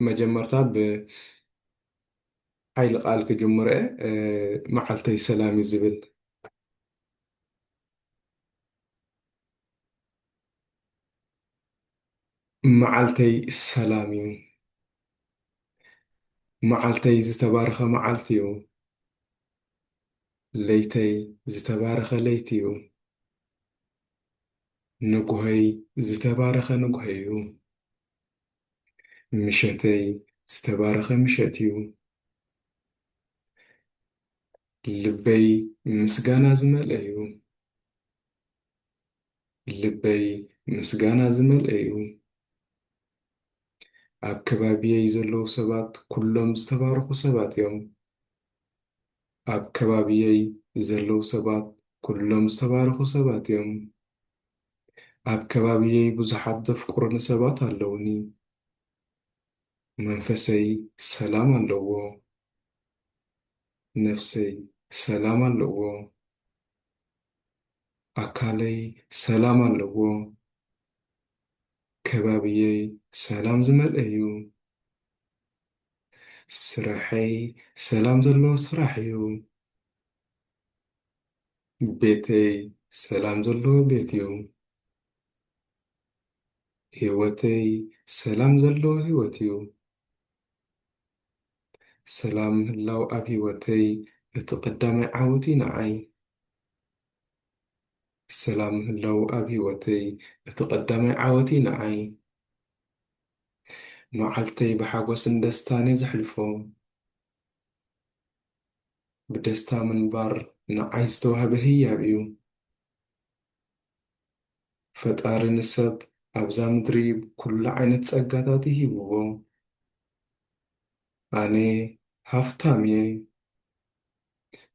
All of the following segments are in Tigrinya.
መጀመርታ ብ ሓይሊ ቃል ክጅምሮ እየ መዓልተይ ሰላም እዩ ዝብል። መዓልተይ ሰላም እዩ። መዓልተይ ዝተባረኸ መዓልቲ እዩ። ለይተይ ዝተባረኸ ለይቲ እዩ። ንጉሆይ ዝተባረኸ ንጉሆ'ዩ። ምሸተይ ዝተባረኸ ምሸት'ዩ። ልበይ ምስጋና ዝመልኦ'ዩ። ልበይ ምስጋና ዝመልኦ'ዩ። ኣብ ከባቢየይ ዘለዉ ሰባት ኩሎም ዝተባረኹ ሰባት እዮም። ኣብ ከባቢየይ ዘለዉ ሰባት ኩሎም ዝተባረኹ ሰባት እዮም። ኣብ ከባቢየይ ብዙሓት ዘፍቅሩኒ ሰባት ኣለዉኒ። መንፈሰይ ሰላም ኣለዎ። ነፍሰይ ሰላም ኣለዎ። ኣካለይ ሰላም ኣለዎ። ከባቢየይ ሰላም ዝመልኦ'ዩ። ስርሐይ ሰላም ዘለዎ ስራሕ እዩ። ቤተይ ሰላም ዘለዎ ቤት እዩ። ህይወተይ ሰላም ዘለዎ ህይወት እዩ። ሰላም ምህላው ኣብ ህይወተይ እቲ ቀዳማይ ዓወት እዩ ንዓይ። ሰላም ምህላው ኣብ ህይወተይ እቲ ቀዳማይ ዓወት እዩ ንዓይ። መዓልተይ ብሓጎስን ደስታን እየ ዘሕልፎ። ብደስታ ምንባር ንዓይ ዝተዋህበ ህያብ እዩ። ፈጣሪ ንሰብ ኣብዛ ምድሪ ኩሉ ዓይነት ጸጋታት እዩ ሂብዎ። ኣነ ሃፍታም እየ።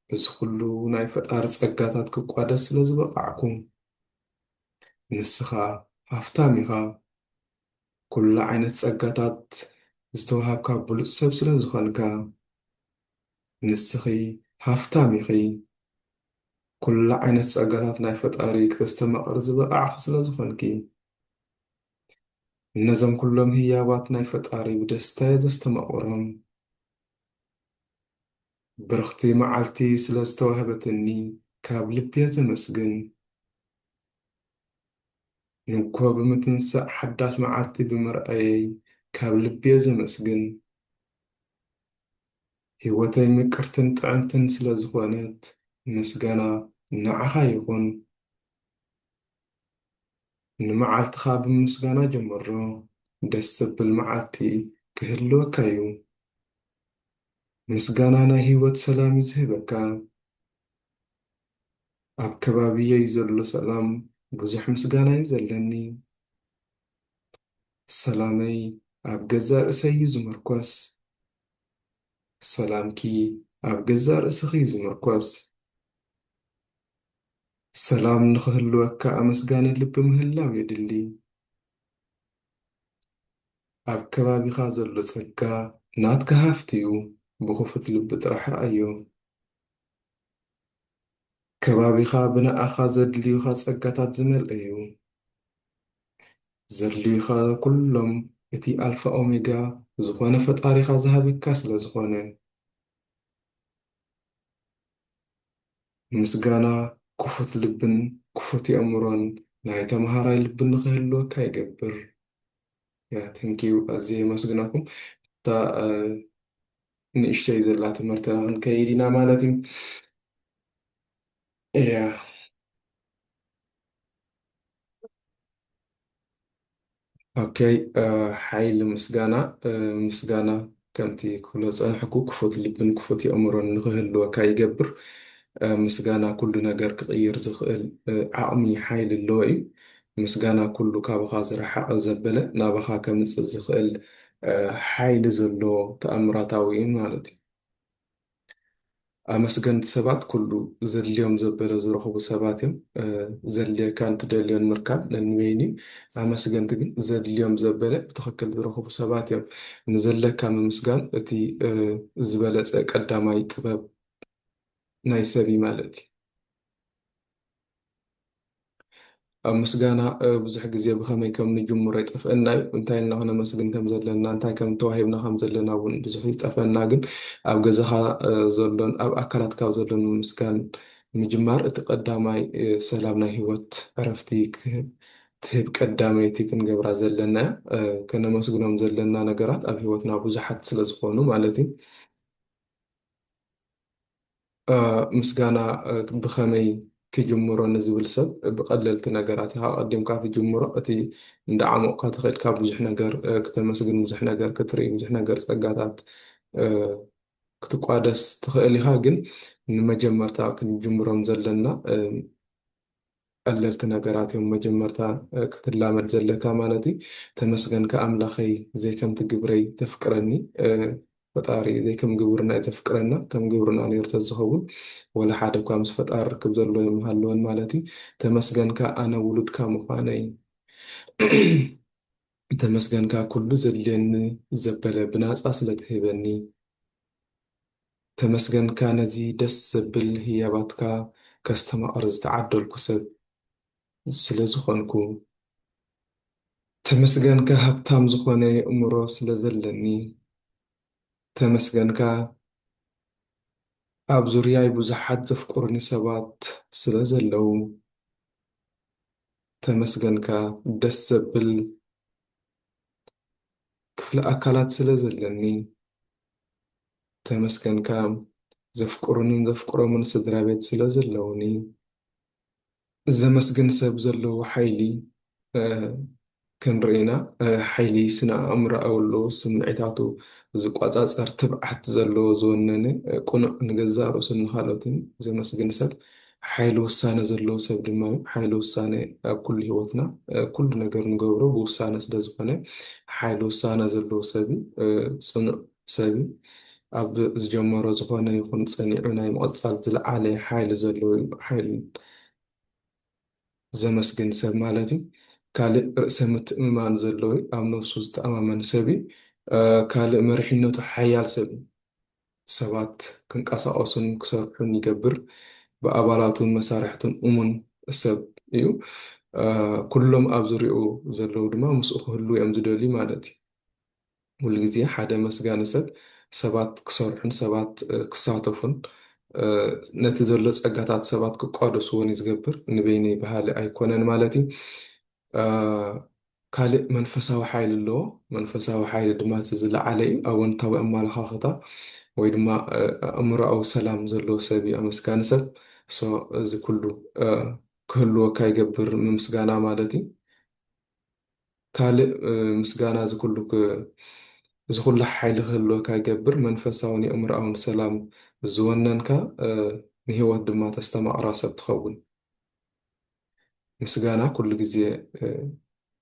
በዚ ኩሉ ናይ ፈጣሪ ጸጋታት ክቋደስ ስለ ዝበቓዕኩ። ንስኻ ሃፍታም ኢኻ። ኩሉ ዓይነት ጸጋታት ዝተዋሃብካ ብሉጽ ሰብ ስለ ዝኾንካ። ንስኺ ሃፍታም ኢኺ። ኩሉ ዓይነት ጸጋታት ናይ ፈጣሪ ክተስተማቕሪ ዝበቓዕኺ ስለ ዝኾንኪ። እነዞም ኩሎም ህያባት ናይ ፈጣሪ ብደስታየ ዘስተማቕሮም። ብርኽቲ መዓልቲ ስለ ዝተዋህበትኒ ካብ ልቢየ ዘመስግን። ንግሆ ብምትንሳእ ሓዳስ መዓልቲ ብምርኣየይ ካብ ልቤ ዘመስግን። ሂወተይ ምቅርትን ጥዕምትን ስለ ዝኮነት ምስጋና ንዓካ ይኩን። ንመዓልትካ ብምስጋና ጀምሮ ደስ ዘብል መዓልቲ ክህልወካ ዩ። ምስጋና ናይ ሂወት ሰላም ዩ ዝህበካ። ኣብ ከባቢየይ ዘሎ ሰላም ብዙሕ ምስጋና ዩ ዘለኒ። ሰላመይ ኣብ ገዛእ ርእሰይ ዩ ዝምርኮስ። ሰላምኪ ኣብ ገዛእ ርእስኺ ዩ ዝምርኮስ። ሰላም ንኽህልወካ ኣመስጋኒ ልቢ ምህላው የድሊ። ኣብ ከባቢኻ ዘሎ ጸጋ ናትካ ሃፍቲ ዩ። ብኽፉት ልቢ ጥራሕ ርኣዮ። ከባቢኻ ብንኣኻ ዘድልዩኻ ጸጋታት ዝመልእ'ዩ። ዘድልዩኻ ኩሎም እቲ ኣልፋ ኦሜጋ ዝኾነ ፈጣሪኻ ዝሃበካ ስለ ዝኾነ። ምስጋና ክፉት ልብን ክፉት የእምሮን ናይ ተመሃራይ ልቢ ንኽህልወካ ይገብር። ያ ተንኪው ኣዝየ የመስግነኩም እታ ንእሽተይ ዘላ ትምህርትና ክንከይድ ኢና ማለት እዩ እያ ኦኬ ሓይሊ ምስጋና ምስጋና ከምቲ ክብሎ ፀንሕኩ ክፉት ልብን ክፉት የእምሮን ንክህልወካ ይገብር ምስጋና ኩሉ ነገር ክቕይር ዝኽእል ዓቕሚ ሓይሊ ኣለዎ እዩ ምስጋና ኩሉ ካብኻ ዝረሓቐ ዘበለ ናባኻ ከምጽእ ዝኽእል ሓይሊ ዘለዎ ተኣምራታዊ እዩ ማለት እዩ። ኣመስገንቲ ሰባት ኩሉ ዘድልዮም ዘበለ ዝረኽቡ ሰባት እዮም። ዘድልየካን ትደልዮን ምርካብ ነንበይኑ እዩ። ኣመስገንቲ ግን ዘድልዮም ዘበለ ብትኽክል ዝረኽቡ ሰባት እዮም። ንዘለካ ምምስጋን እቲ ዝበለጸ ቀዳማይ ጥበብ ናይ ሰብ እዩ ማለት እዩ። ኣብ ምስጋና ብዙሕ ግዜ ብኸመይ ከም ንጅምሮ ይጠፍእና እዩ። እንታይ ኢልና ክነመስግን ከም ዘለና፣ እንታይ ከም ተዋሂብና ከም ዘለና እውን ብዙሕ ይጠፈና። ግን ኣብ ገዛኻ ዘሎን ኣብ ኣካላትካ ዘሎን ምምስጋን ምጅማር እቲ ቀዳማይ ሰላም ናይ ህይወት ዕረፍቲ ትህብ ቀዳመይቲ ክንገብራ ዘለና ከነመስግኖም ዘለና ነገራት ኣብ ህይወትና ብዙሓት ስለዝኾኑ ማለት እዩ። ምስጋና ብኸመይ ክጅምሮ ንዝብል ሰብ ብቐለልቲ ነገራት ኢኻ ቀዲምካ ትጅምሮ። እቲ እንዳዓሞቕካ ተኸድካ ብዙሕ ነገር ክተመስግን፣ ብዙሕ ነገር ክትርኢ፣ ብዙሕ ነገር ጸጋታት ክትቋደስ ትኽእል ኢኻ። ግን ንመጀመርታ ክንጅምሮም ዘለና ቀለልቲ ነገራት እዮም መጀመርታ ክትላመድ ዘለካ ማለት እዩ ተመስገንካ ኣምላኸይ ዘይከምቲ ግብረይ ተፍቅረኒ ፈጣሪ ዘይከም ግብርና እዩ ዘፍቅረና ከም ግብርና ነይሩ ተዝኸውን ወላ ሓደ እኳ ምስ ፈጣሪ ርክብ ዘለዎ የምሃለወን ማለት እዩ ተመስገንካ ኣነ ውሉድካ ምዃነይ ተመስገንካ ኩሉ ዘድልየኒ ዘበለ ብናፃ ስለትህበኒ ተመስገንካ ነዚ ደስ ዘብል ህያባትካ ከስተማቕር ዝተዓደልኩ ሰብ ስለ ዝኾንኩ። ተመስገንካ ሃብታም ዝኾነ የእምሮ ስለ ዘለኒ። ተመስገንካ ኣብ ዙርያይ ብዙሓት ዘፍቅሩኒ ሰባት ስለ ዘለዉ። ተመስገንካ ደስ ዘብል ክፍሊ ኣካላት ስለ ዘለኒ። ተመስገንካ ዘፍቅሩንን ዘፍቅሮምን ስድራቤት ስለዘለዉኒ ዘመስግን ሰብ ዘለዎ ሓይሊ ክንርኢ ኢና። ሓይሊ ስነ-ኣእምሮኣዊ ኣሎ፣ ስምዒታቱ ዝቆጻጸር፣ ትብዓት ዘለዎ፣ ዝወነነ፣ ቅኑዕ፣ ንገዛእ ርእሱን ንኻልኦትን ዘመስግን ሰብ ሓይሊ ውሳነ ዘለዎ ሰብ ድማ እዩ። ሓይሊ ውሳነ ኣብ ኩሉ ህይወትና ኩሉ ነገር ንገብሮ ብውሳነ ስለዝኾነ ሓይሊ ውሳነ ዘለዎ ሰብ እዩ። ጽኑዕ ሰብ ኣብ ዝጀመሮ ዝኾነ ይኹን ፀኒዑ ናይ ምቕፃል ዝልዓለ ሓይሊ ዘለዎ ዩ። ሓይል ዘመስግን ሰብ ማለት ዩ። ካልእ ርእሰ ምትእምማን ዘለዎ ዩ። ኣብ ነብሱ ዝተኣማመን ሰብ ዩ። ካልእ መሪሕነቱ ሓያል ሰብ ዩ። ሰባት ክንቀሳቐሱን ክሰርሑን ይገብር። ብኣባላቱን መሳርሕቱን እሙን ሰብ ዩ። ኩሎም ኣብ ዙርይኡ ዘለዉ ድማ ምስኡ ክህልዉ ዮም ዝደልዩ ማለት ዩ። ሙሉ ግዜ ሓደ መስጋኒ ሰብ ሰባት ክሰርሑን ሰባት ክሳተፉን ነቲ ዘሎ ጸጋታት ሰባት ክቋደስዎን እዩ ዝገብር ንበይነይ በሃሊ ኣይኮነን ማለት እዩ ካልእ መንፈሳዊ ሓይሊ ኣለዎ መንፈሳዊ ሓይሊ ድማ እቲ ዝለዓለ እዩ ኣወንታዊ ኣመለኻኽታ ወይ ድማ ኣእምሮኣዊ ሰላም ዘለዎ ሰብ እዩ ኣመስጋኒ ሰብ እዚ ኩሉ ክህልወካ ይገብር ምምስጋና ማለት እዩ ካልእ ምስጋና እዚ ኩሉ እዚ ኩሉ ሓይሊ ክህልወካ ይገብር መንፈሳውን የእምሮኣውን ሰላም ዝወነንካ ንህይወት ድማ ተስተማቕራ ሰብ ትኸውን። ምስጋና ኩሉ ግዜ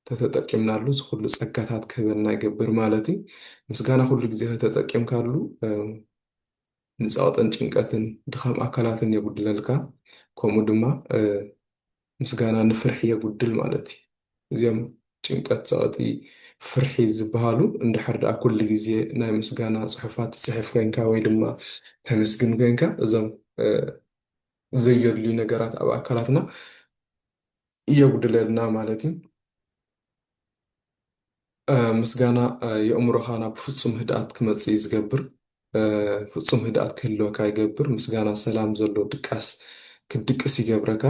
ተተጠቂምናሉ እዚ ኩሉ ጸጋታት ክህበና ይገብር ማለት እዩ። ምስጋና ኩሉ ግዜ ከተጠቂምካሉ ንጸቕጥን ጭንቀትን ድኻም ኣካላትን የጉድለልካ ከምኡ ድማ ምስጋና ንፍርሒ የጉድል ማለት እዩ። እዚኦም ጭንቀት ጸቕጢ ፍርሒ ዝበሃሉ እንድሕር ደኣ ኩሉ ግዜ ናይ ምስጋና ጽሑፋት ትጽሕፍ ኮይንካ ወይ ድማ ተመስግን ኮይንካ እዞም ዘየድልዩ ነገራት ኣብ ኣካላትና የጉድለልና ማለት እዩ። ምስጋና የእምሮኻ ናብ ፍጹም ህድኣት ክመጽእ እዩ ዝገብር። ፍጹም ህድኣት ክህልወካ ይገብር። ምስጋና ሰላም ዘሎ ድቃስ ክትድቅስ ይገብረካ።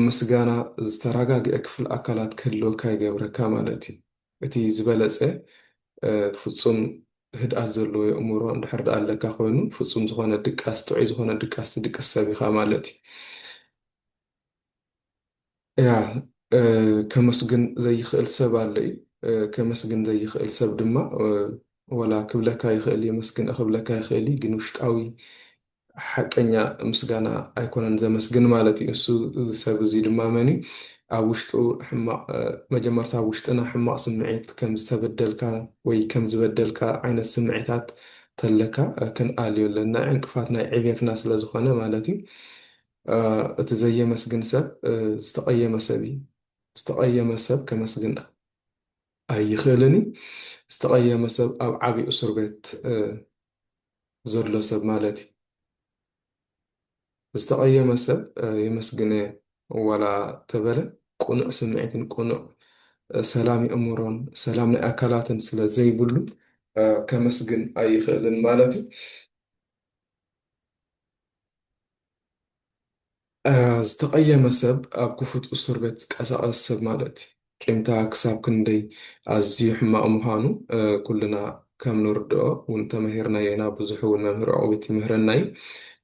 ምስጋና ዝተረጋግዐ ክፍል ኣካላት ክህልወካ ይገብረካ ማለት እዩ። እቲ ዝበለጸ ፍጹም ህድኣት ዘለዎ የእምሮ እንድሕር ድኣ ኣለካ ኮይኑ ፍጹም ዝኾነ ድቃስ ጥዑይ ዝኾነ ድቃስ ትድቅስ ሰብ ኢኻ ማለት እዩ። እያ ከመስግን ዘይክእል ሰብ ኣሎ እዩ ከመስግን ዘይክእል ሰብ ድማ ወላ ክብለካ ይኽእል የመስግን ክብለካ ይኽእል እዩ ግን ውሽጣዊ ሓቀኛ ምስጋና ኣይኮነን ዘመስግን ማለት እዩ እሱ ሰብ እዚ ድማ መን እዩ ኣብ ውሽጡ ሕማቕ መጀመርታ ኣብ ውሽጥና ሕማቕ ስምዒት ከም ዝተበደልካ ወይ ከም ዝበደልካ ዓይነት ስምዒታት ተለካ ክንኣልዮ ኣለና ዕንቅፋት ናይ ዕብየትና ስለዝኾነ ማለት እዩ እቲ ዘየመስግን ሰብ ዝተቐየመ ሰብ እዩ። ዝተቐየመ ሰብ ከመስግን ኣይኽእልን እዩ። ዝተቐየመ ሰብ ኣብ ዓብዪ እሱር ቤት ዘሎ ሰብ ማለት እዩ። ዝተቐየመ ሰብ የመስግነ ዋላ ተበለ ቅኑዕ ስምዒትን ቅኑዕ ሰላም የእምሮን ሰላም ናይ ኣካላትን ስለ ዘይብሉ ከመስግን ኣይኽእልን ማለት እዩ። ዝተቐየመ ሰብ ኣብ ክፉት እሱር ቤት ዝቀሳቐስ ሰብ ማለት እዩ። ቂምታ ክሳብ ክንደይ ኣዝዩ ሕማቕ ምዃኑ ኩልና ከም ንርድኦ ውን ተመሂርናዮ ኢና፣ ብዙሕ ውን መምህር ዑቕቢት ይምህረና እዩ።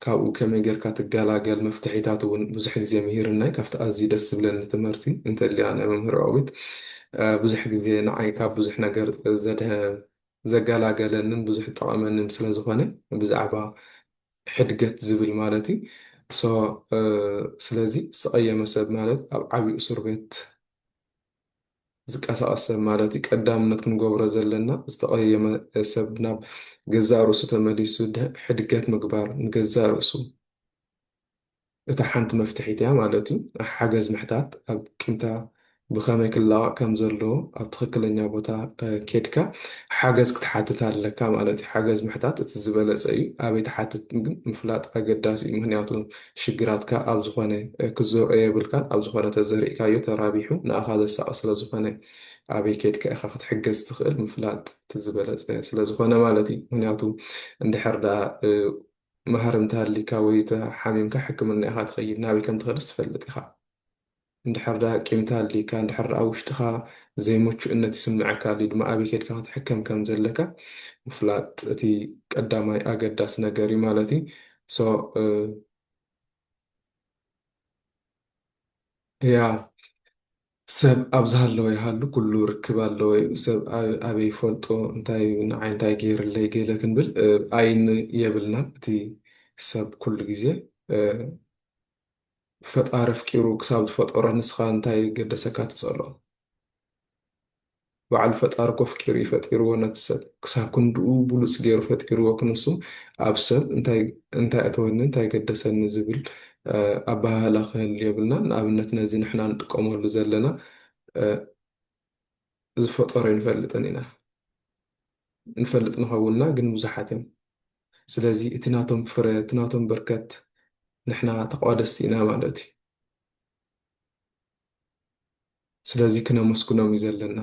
ካብኡ ከመይ ጌርካ ትገላገል መፍትሒታት ውን ብዙሕ ግዜ ምሂርና እዩ። ካብቲ ኣዝዩ ደስ ዝብለኒ ትምህርቲ እንተልያ ናይ መምህር ዑቕቢት ብዙሕ ግዜ ንዓይ ካብ ብዙሕ ነገር ዘድሀ ዘጋላገለንን ብዙሕ ዝጠቐመንን ስለ ዝኾነ ብዛዕባ ሕድገት ዝብል ማለት እዩ ሶ ስለዚ ዝተቐየመ ሰብ ማለት ኣብ ዓብዩ እሱር ቤት ዝቀሳቐስ ሰብ ማለት እዩ ቀዳምነት ክንገብሮ ዘለና ዝተቐየመ ሰብ ናብ ገዛእ ርእሱ ተመሊሱ ሕድገት ምግባር ንገዛእ ርእሱ እታ ሓንቲ መፍትሒት እያ ማለት እዩ። ሓገዝ ምሕታት ኣብ ቂምታ ብኸመይ ክላቐቕ ከም ዘለዎ ኣብ ትኽክለኛ ቦታ ኬድካ ሓገዝ ክትሓትት ኣለካ ማለት እዩ። ሓገዝ ምሕታት እቲ ዝበለጸ እዩ። ኣበይ ትሓትት ግን ምፍላጥ ኣገዳሲ እዩ። ምኽንያቱ ሽግራትካ ኣብ ዝኾነ ክትዘርኦ የብልካን። ኣብ ዝኾነ ተዘሪእካዮ ተራቢሑ ንኣኻ ዘሳቒ ስለ ዝኾነ ኣበይ ኬድካ ኢኻ ክትሕገዝ ትኽእል ምፍላጥ እቲ ዝበለጸ ስለ ዝኾነ ማለት እዩ። ምኽንያቱ እንድሕር ደኣ መሃር እንተሃሊካ ወይ ተሓሚምካ ሕክምና ኢኻ ትኸይድ ናበይ ከም ትኸድስ ትፈልጥ ኢኻ እንድሕር ደኣ ቂም ተሃሊካ እንድሕር ደኣ ውሽጥኻ ዘይሙቹእነት ይስመዐካ ኣልዩ ድማ ኣበይ ከድካ ክትሕከም ከም ዘለካ ምፍላጥ እቲ ቀዳማይ ኣገዳሲ ነገር እዩ ማለት እዩ ሶ ያ ሰብ ኣብ ዝሃለወ ይሃሉ ኩሉ ርክብ ኣለዎ ዩ ሰብ ኣበይ ይፈልጦ እንታይ ዩ ንዓይ እንታይ ገይርለይ ገለ ክንብል ኣይን የብልናን እቲ ሰብ ኩሉ ግዜ ፈጣሪ ኣፍቂሩ ክሳብ ዝፈጠሮ ንስኻ እንታይ ገደሰካ ትጸልኦ። በዓል ፈጣሪ ኮፍቂሩ እዩ ፈጢርዎ ነቲ ሰብ ክሳብ ክንድኡ ብሉጽ ጌሩ ፈጢርዎ ክንሱ ኣብ ሰብ እንታይ እንታይ ኣተወኒ እንታይ ገደሰኒ ዝብል ኣበሃህላ ክህሉ የብልናን ንኣብነት ነዚ ንሕና ንጥቀመሉ ዘለና ዝፈጠሮ ኣይንፈልጥን ኢና ንፈልጥ ንኸውንና ግን ብዙሓት እዮም ስለዚ እቲ ናቶም ፍረ እቲ ናቶም በርከት ንሕና ተቋደስቲ ኢና ማለት እዩ ስለዚ ክነመስግኖም እዩ ዘለና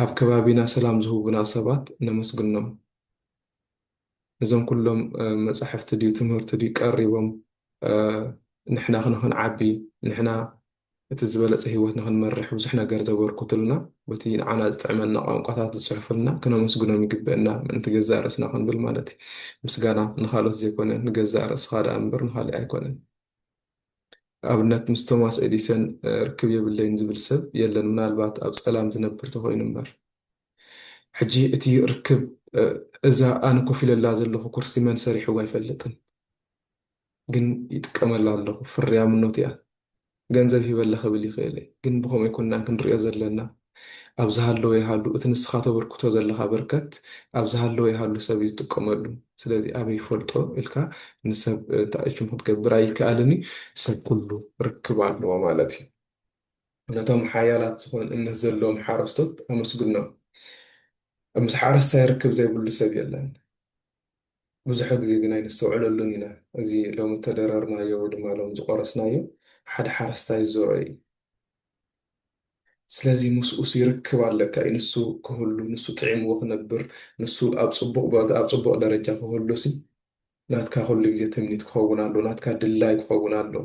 ኣብ ከባቢና ሰላም ዝህቡና ሰባት ነመስግኖም እዞም ኩሎም መጻሕፍቲ ድዩ ትምህርቲ ድዩ ቀሪቦም ንሕና ክንዓቢ ንሕና እቲ ዝበለጸ ህይወት ንኽንመርሕ ብዙሕ ነገር ዘበርክቱልና በቲ ንዓና ዝጥዕመና ቋንቋታት ዝጽሕፉልና ክነመስግኖም ይግብእና ምእንቲ ገዛእ ርእስና ክንብል ማለት እዩ ምስጋና ንኻልኦት ዘይኮነ ንገዛእ ርእስኻ ደኣ እምበር ንኻልእ ኣይኮነን ንኣብነት ምስ ቶማስ ኤዲሰን ርክብ የብለይን ዝብል ሰብ የለን ምናልባት ኣብ ጸላም ዝነብር ተኾይኑ እምበር። ሕጂ እቲ ርክብ እዛ ኣነ ኮፍ ኢለላ ዘለኹ ኩርሲ መን ሰሪሕዋ ኣይፈልጥን ግን ይጥቀመላ ኣለኹ ፍርያምኖት እያ ገንዘብ ሂበላ ክብል ይኽእል እየ ግን ብከምኡ ኣይኮናን ክንርእዮ ዘለና። ኣብ ዝሃለወ ይሃሉ እቲ ንስኻ ተበርክቶ ዘለኻ በርከት ኣብ ዝሃለወ ይሃሉ ሰብ እዩ ዝጥቀመሉ ስለዚ ኣበይ ይፈልጦ ኢልካ ንሰብ ታኣችም ክትገብር ኣይከኣልን እዩ ሰብ ኩሉ ርክብ ኣለዎ ማለት እዩ ነቶም ሓያላት ዝኾን እምነት ዘለዎም ሓረስቶት ኣመስግኖም ምስ ሓረስታይ ርክብ ዘይብሉ ሰብ የለን ብዙሕ ግዜ ግን ኣይነስተውዕለሉን ኢና እዚ ሎሚ እተደረርናዮ ወይ ድማ ሎም ዝቆረስናዮ ሓደ ሓረስታይ ዝዘርኦ እዩ ስለዚ ምስኡሲ ርክብ ኣለካ እዩ ንሱ ክህሉ ንሱ ጥዒምዎ ክነብር ንሱ ኣብ ጽቡቕ ቦታ ኣብ ጽቡቕ ደረጃ ክህሉሲ ናትካ ኩሉ ግዜ ትምኒት ክኸውን ኣለዎ ናትካ ድላይ ክኸውን ኣለዎ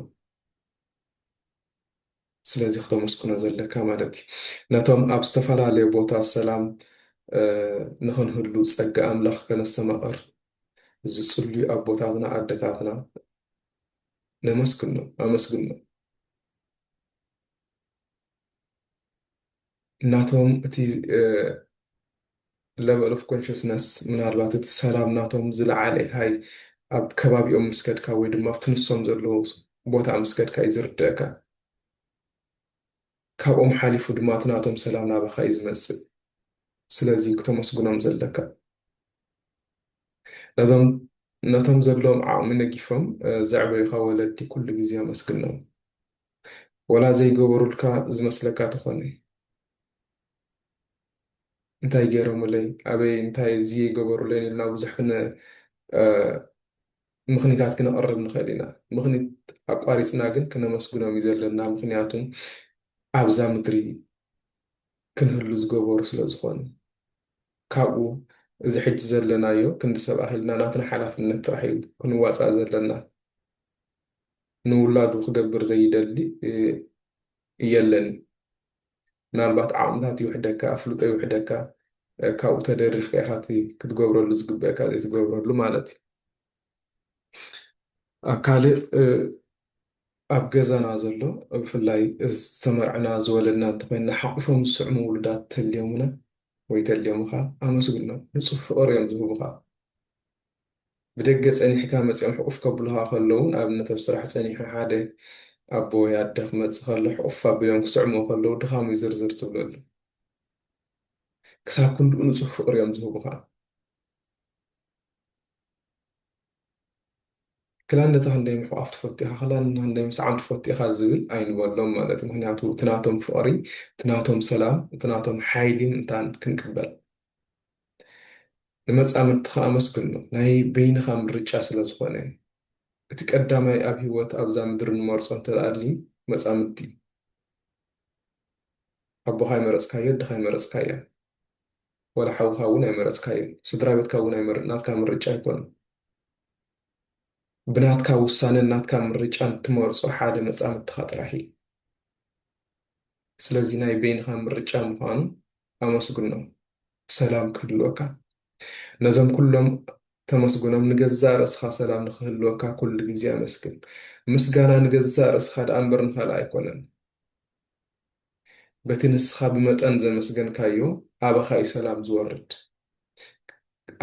ስለዚ ክተመስግኖ ዘለካ ማለት እዩ ነቶም ኣብ ዝተፈላለየ ቦታ ሰላም ንኽንህሉ ጸጋ ኣምላኽ ከነስተማቕር ዝጽልዩ ኣቦታትና ኣደታትና ነመስግኖ ኣመስግኖ ናቶም እቲ ለቨል ኦፍ ኮንሽስነስ ምናልባት እቲ ሰላም ናቶም ዝለዓለ ሃይ ኣብ ከባቢኦም ምስ ከድካ ወይ ድማ ኣብቲ ንሶም ዘለዎ ቦታ ምስ ከድካ እዩ ዝርደእካ። ካብኦም ሓሊፉ ድማ እቲ ናቶም ሰላም ናባኻ እዩ ዝመጽእ። ስለዚ ክተመስግኖም ዘለካ ነዞም ነቶም ዘለዎም ዓቕሚ ነጊፎም ዘዕበዩኻ ወለዲ ኩሉ ግዜ ኣመስግኖም። ወላ ዘይገበሩልካ ዝመስለካ ተኾነ እንታይ ገይሮምለይ ኣበይ እንታይ ዝይ ገበሩለይን ኢልና ብዙሕ ክነ ምኽኒታት ክነቕርብ ንኽእል ኢና። ምኽኒት ኣቋሪፅና ግን ክነመስግኖም እዩ ዘለና ምኽንያቱም ኣብዛ ምድሪ ክንህሉ ዝገበሩ ስለ ዝኾኑ ካብኡ እዚ ሕጂ ዘለናዮ ክንዲ ሰብ ኣኺልና ናትና ሓላፍነት ጥራሕ እዩ ክንዋፃእ ዘለና። ንውላዱ ክገብር ዘይደሊ የለን እዩ። ምናልባት ዓቕምታት ይውሕደካ፣ ኣፍልጦ ይውሕደካ፣ ካብኡ ተደሪኽካ ኢኻ እቲ ክትገብረሉ ዝግበእካ ዘይትገብረሉ ማለት እዩ። ኣብ ካልእ ኣብ ገዛና ዘሎ ብፍላይ ዝተመርዕና ዝወለድና እንተኮይንና ሓቑፎም ዝስዕሙ ውሉዳት ተልዮሙና ወይ ተልዮምኻ ኣመስግኖም። ንጹህ ፍቕሪ እዮም ዝህቡኻ። ብደገ ጸኒሕካ መጺኦም ሕቁፍ ከብሉኻ ከለዉን ኣብነት ኣብ ስራሕ ጸኒሑ ሓደ ኣቦ ወይ ኣደ ክመጽእ ከሎ ሕቁፍ ኣቢሎም ክስዕምዎ ከለዉ ድኻሙይ ዝርዝር ትብለሉ ክሳብ ክንድኡ ንጹህ ፍቅሪ እዮም ዝህቡኻ። ክላን ነታ ክንደይ ምሕቋፍ ትፈቱ ኢኻ ክላን ክንደይ ምስዓም ትፈቱ ኢኻ ዝብል ኣይንበሎም ማለት ምክንያቱ እቲ ናቶም ፍቅሪ እቲ ናቶም ሰላም እቲ ናቶም ሓይሊን እንታን ክንቅበል ንመጻምድትኻ ኣመስግኖም፣ ናይ በይንኻ ምርጫ ስለ ዝኾነ። እቲ ቀዳማይ ኣብ ህይወት ኣብዛ ምድሪ ንመርጾ እንተ ኣልዩ መጻምድቲ እዩ። ኣቦኻ ኣይመረጽካዮ፣ ኣደኻ ኣይመረጽካያ፣ ዋላ ሓውኻ እውን ኣይመረጽካዮን፣ ስድራ ቤትካ እውን ኣይመር ናትካ ምርጫ ኣይኮነን። ብናትካ ውሳነን ናትካ ምርጫን እትመርጾ ሓደ መጻምድትኻ ጥራሕ እዩ። ስለዚ ናይ በይንኻ ምርጫ ምዃኑ ኣመስግኖ ሰላም ክህልወካ ነዞም ኩሎም ተመስግኖም ንገዛእ ርእስኻ ሰላም ንኽህልወካ ኩሉ ግዜ ኣመስግን ምስጋና ንገዛእ ርእስኻ ደኣ እምበር ንኻልእ ኣይኮነን በቲ ንስኻ ብመጠን ዘመስገንካዮ ኣባኻ እዩ ሰላም ዝወርድ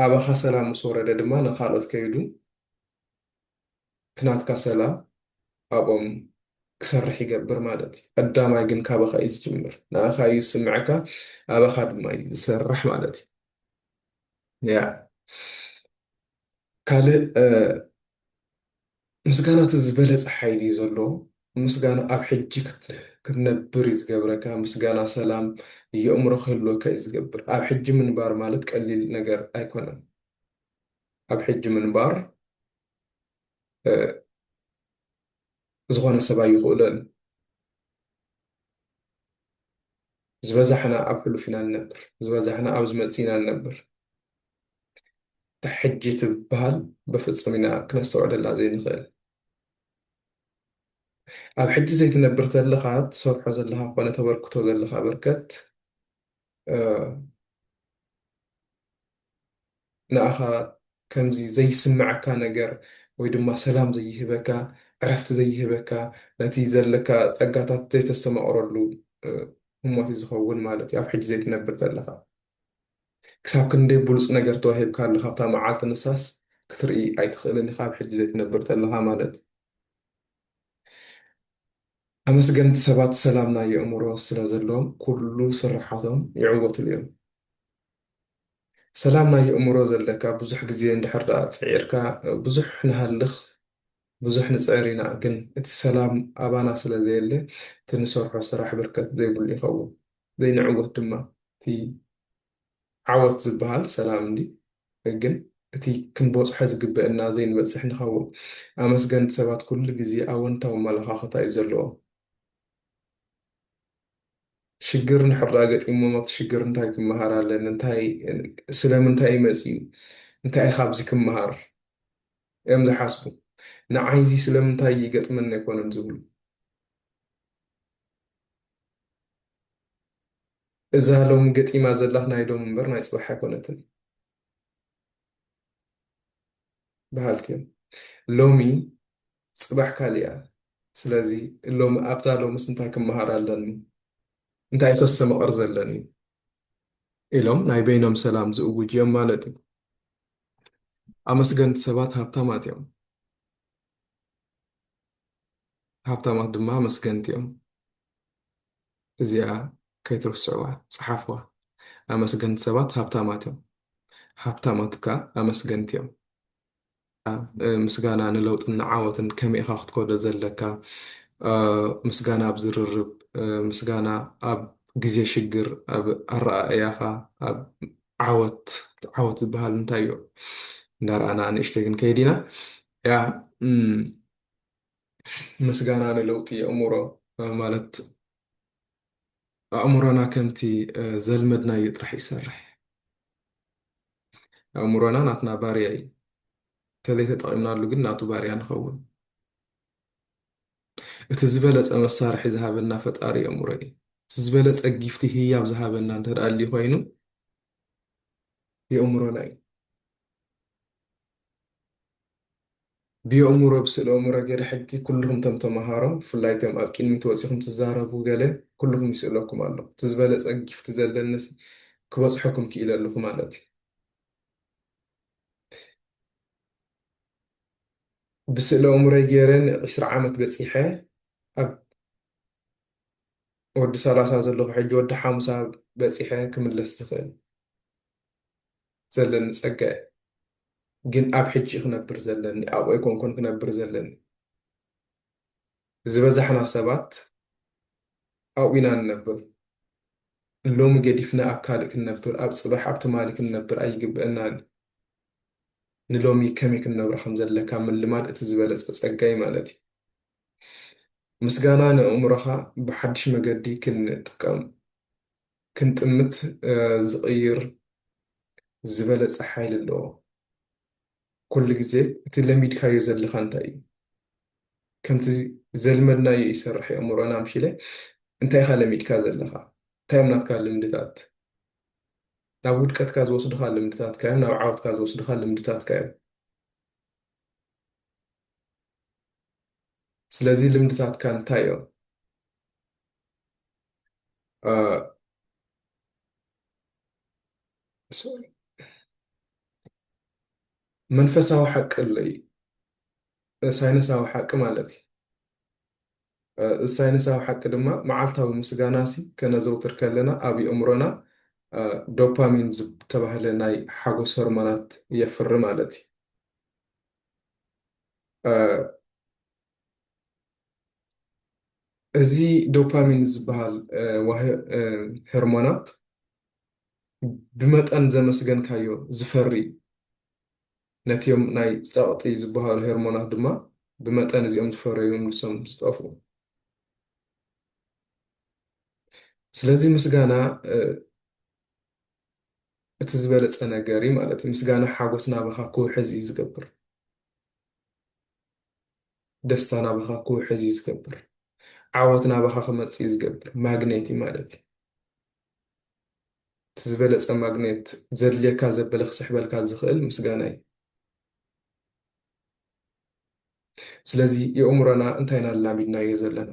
ኣባኻ ሰላም ምስ ወረደ ድማ ንኻልኦት ከይዱ ትናትካ ሰላም ኣብኦም ክሰርሕ ይገብር ማለት እዩ ቀዳማይ ግን ካባካ እዩ ዝጅምር ንኣካ እዩ ዝስምዐካ ኣባካ ድማ እዩ ዝሰርሕ ማለት እዩ ያ ካልእ ምስጋና እቲ ዝበለፀ ሓይሊ እዩ ዘለዎ ምስጋና ኣብ ሕጂ ክትነብር እዩ ዝገብረካ ምስጋና ሰላም የእምሮ ክህልወካ እዩ ዝገብር ኣብ ሕጂ ምንባር ማለት ቀሊል ነገር ኣይኮነን ኣብ ሕጂ ምንባር ዝኾነ ሰብ ኣይኽእሎን እዩ። ዝበዛሕና ኣብ ሕሉፍ ኢና ንነብር፣ ዝበዛሕና ኣብ ዝመጽእ ኢና ንነብር። እታ ሕጂ ትብሃል በፍጹም ኢና ክነስተውዕለላ ዘይንኽእል። ኣብ ሕጂ ዘይትነብር ተለኻ ትሰርሖ ዘለኻ ኮነ ተበርክቶ ዘለኻ በርከት ንኣኻ ከምዚ ዘይስመዐካ ነገር ወይ ድማ ሰላም ዘይህበካ ዕረፍቲ ዘይህበካ ነቲ ዘለካ ጸጋታት ዘይተስተማቕረሉ ህሞት እዩ ዝኸውን ማለት እዩ ኣብ ሕጂ ዘይትነብር ዘለኻ ክሳብ ክንደይ ብሉጽ ነገር ተዋሂብካ ኣሎ ካብታ መዓልቲ ንሳስ ክትርኢ ኣይትኽእልን ኢኻ ኣብ ሕጂ ዘይትነብር ዘለኻ ማለት ኣመስገንቲ ሰባት ሰላም ናይ የእሙሮ ስለ ዘለዎም ኩሉ ስርሓቶም ይዕወትሉ እዮም። ሰላም ናይ የእሙሮ ዘለካ ብዙሕ ግዜ እንድሕር ደኣ ጽዒርካ ብዙሕ ንሃልኽ ብዙሕ ንጽዕር ኢና ግን እቲ ሰላም ኣባና ስለ ዘየለ እቲ ንሰርሖ ስራሕ ብርከት ዘይብሉ ይኸውን ዘይንዕወት ድማ እቲ ዓወት ዝብሃል ሰላም እንድዩ ግን እቲ ክንቦጽሖ ዝግበእና ዘይንበጽሕ ንኸውን ኣመስገንቲ ሰባት ኩሉ ግዜ ኣወንታዊ ኣመላኻኽታ እዩ ዘለዎም ሽግር እንድሕር ድኣ ገጢሞም ኣብቲ ሽግር እንታይ ክመሃር ኣለኒ እንታይ ስለምንታይ እዩ መጺኡ እንታይ እዩ ካብዚ ክመሃር እዮም ዝሓስቡ ንዓይ እዚ ስለምንታይ ይገጥመኒ ኣይኮነን ዝብሉ እዛ ሎሚ ገጢማ ዘላኽ ናይ ሎሚ እምበር ናይ ጽባሕ ኣይኮነትን በሃልቲ እዮም ሎሚ ጽባሕ ካልእ እያ ስለዚ ሎሚ ኣብዛ ሎምስ እንታይ ክመሃር ኣለኒ እንታይ እዩ ከስተምቕር ዘለኒ ኢሎም ናይ በይኖም ሰላም ዝእውጁ እዮም ማለት እዩ ኣመስገንቲ ሰባት ሃብታማት እዮም ሃብታማት ድማ ኣመስገንቲ እዮም እዚኣ ከይትርስዕዋ ጸሓፍዋ ኣመስገንቲ ሰባት ሃብታማት እዮም ሃብታማት ከኣ ኣመስገንቲ እዮም። ምስጋና ንለውጥን ንዓወትን ከመይ ኢኻ ክትከዶ ዘለካ ምስጋና ኣብ ዝርርብ ምስጋና ኣብ ግዜ ሽግር ኣብ ኣረኣእያኻ ኣብ ዓወት ዓወት ዝበሃል እንታይ እዩ እንዳረኣና ንእሽተይ ክንከይድ ኢና ያ ምስጋና ንለውጢ የእሙሮ ማለት ኣእሙሮና ከምቲ ዘልመድናዮ ጥራሕ ይሰርሕ። ኣእሙሮና ናትና ባርያ እዩ። ተለይተጠቒምናሉ ግን ናቱ ባርያ ንኸውን። እቲ ዝበለጸ መሳርሒ ዝሃበና ፈጣሪ የእሙሮ እዩ። እቲ ዝበለጸ ጊፍቲ ህያብ ዝሃበና እንተ ኣልዩ ኮይኑ የእሙሮና እዩ። ብየእሙሮ ብስእሊ እእሙረ ገይረ ሕጂ ኩሉኩም ቶም ተማሃሮ ብፍላይ ቶም ኣብ ቂድሚት ወጺኩም ትዛረቡ ገለ ኩሉኩም ይስእለኩም ኣሎ እቲ ዝበለጸ ጊፍት ዘለኒ ሲ ክበጽሖኩም ኪኢለ ኣለኩ ማለት እዩ ብስእሊ እእሙረይ ገይረ ን ዕስራ ዓመት በጺሐ ኣብ ወዲ ሰላሳ ዘለኩ ሕጂ ወዲ ሓሙሳ በጺሐ ክምለስ ዝክእል። ዘለኒ ጸጋ እዩ ግን ኣብ ሕጂ ክነብር ዘለኒ ኣብኡ ኣይኮንኩን ክነብር ዘለኒ ዝበዛሕና ሰባት ኣብኡ ኢና ንነብር ሎሚ ገዲፍና ኣብ ካልእ ክንነብር ኣብ ጽባሕ ኣብ ትማሊ ክንነብር ኣይግብእናን ንሎሚ ከመይ ክንነብሮ ከም ዘለካ ምልማድ እቲ ዝበለጸ ጸጋይ ማለት እዩ ምስጋና ንእእምሮኻ ብሓድሽ መገዲ ክንጥቀም ክንጥምት ዝቕይር ዝበለጸ ሓይሊ ኣለዎ። ኩሉ ግዜ እቲ ለሚድካዮ ዘለኻ እንታይ እዩ? ከምቲ ዘልመድናዮ ይሰርሕ እዩ ኣእምሮና ምሽለ እንታይ ኢኻ ለሚድካ ዘለኻ? እንታይ እዮም ናትካ ልምድታት? ናብ ውድቀትካ ዝወስዱኻ ልምድታትካ እዮም፣ ናብ ዓወትካ ዝወስዱኻ ልምድታትካ እዮም። ስለዚ ልምድታትካ እንታይ እዮም? Uh, sorry. መንፈሳዊ ሓቂ ኣሎ እዩ ሳይንሳዊ ሓቂ ማለት እዩ ሳይንሳዊ ሓቂ ድማ መዓልታዊ ምስጋና ሲ ከነዘውትር ከለና ኣብ የእምሮና ዶፓሚን ዝተባህለ ናይ ሓጎስ ሆርሞናት የፍሪ ማለት እዩ እዚ ዶፓሚን ዝበሃል ሆርሞናት ብመጠን ዘመስገንካዮ ዝፈሪ፣ ነቲም ናይ ጸቕጢ ዝበሃሉ ሆርሞናት ድማ ብመጠን እዚኦም ዝፈረዩ እዮም ንሶም ዝጠፍኡ። ስለዚ ምስጋና እቲ ዝበለጸ ነገር እዩ ማለት እዩ። ምስጋና ሓጎስ ናባኻ ክውሕዝ እዩ ዝገብር። ደስታ ናባኻ ክውሕዝ እዩ ዝገብር። ዓወት ናባኻ ክመጽእ እዩ ዝገብር። ማግኔት እዩ ማለት እዩ። እቲ ዝበለጸ ማግኔት ዘድልየካ ዘበለ ክስሕበልካ ዝኽእል ምስጋና እዩ። ስለዚ የእምሮና እንታይ ኢና ኣላሚድናዮ ዘለና?